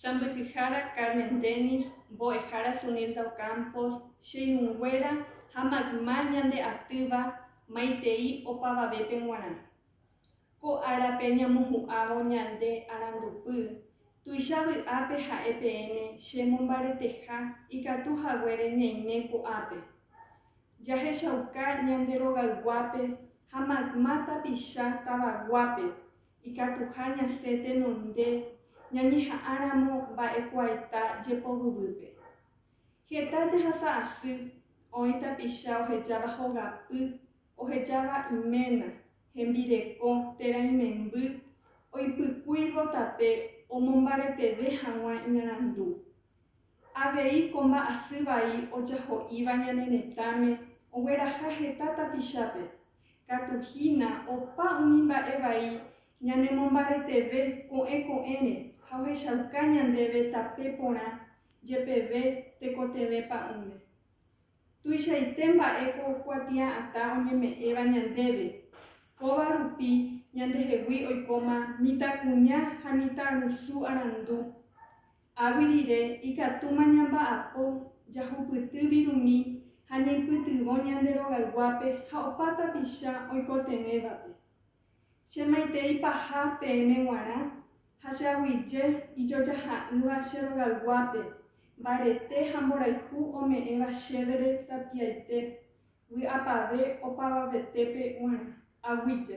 Sãmbyhyhára Carmen Dennis, mbo'ehára Sunilda Ocampo, Che irũnguéra ha mayma ñande atýva maitei opavavépe g̃uarã. Ko árape ñamohu'ãvo ñande arandupy, tuicha vy'ápe ha'e peẽme che mombareteha ikatu haguére ñaime ko'ápe. Jahechauka ñande rogayguápe ha mayma tapicha tavaguápe ikatuha ñasẽ tenonde ñañeha'ãramo mba'ekuaeta jepovyvýpe. Heta jahasa asy, oĩ tapicha ohejáva hogapy, ohejáva iména, hembirekõ térã imemby, oipykúivo tape omombareteve hag̃ua iñarandu. Avei ko mba'asy vai ojaho'íva ñane retãme ogueraha heta tapichápe Katu hína opa umi mba'e vai ñanemombareteve ko'ẽ ko'ẽre ha ohechauka ñandéve tape porã jepeve tekotevẽ pa'ũme. Tuichaite mba'e ko kuatia'atã oñeme'ẽva ñandéve, kóva rupi ñandehegui oikóma mitãkuña ha mitãrusu arandu, Águi rire, ikatúma ñamba'apo jahupyty virumi ha ñaipytyvõ ñande rogayguápe ha opa tapicha oikotevẽvape. Che maitei paha peẽme guarã ha che aguyje ijojaha'ỹva che rogayguápe, mbarete ha mborayhu ome'ẽva chévere tapiaite, vy'apave opavavetépe guarã. Aguyje.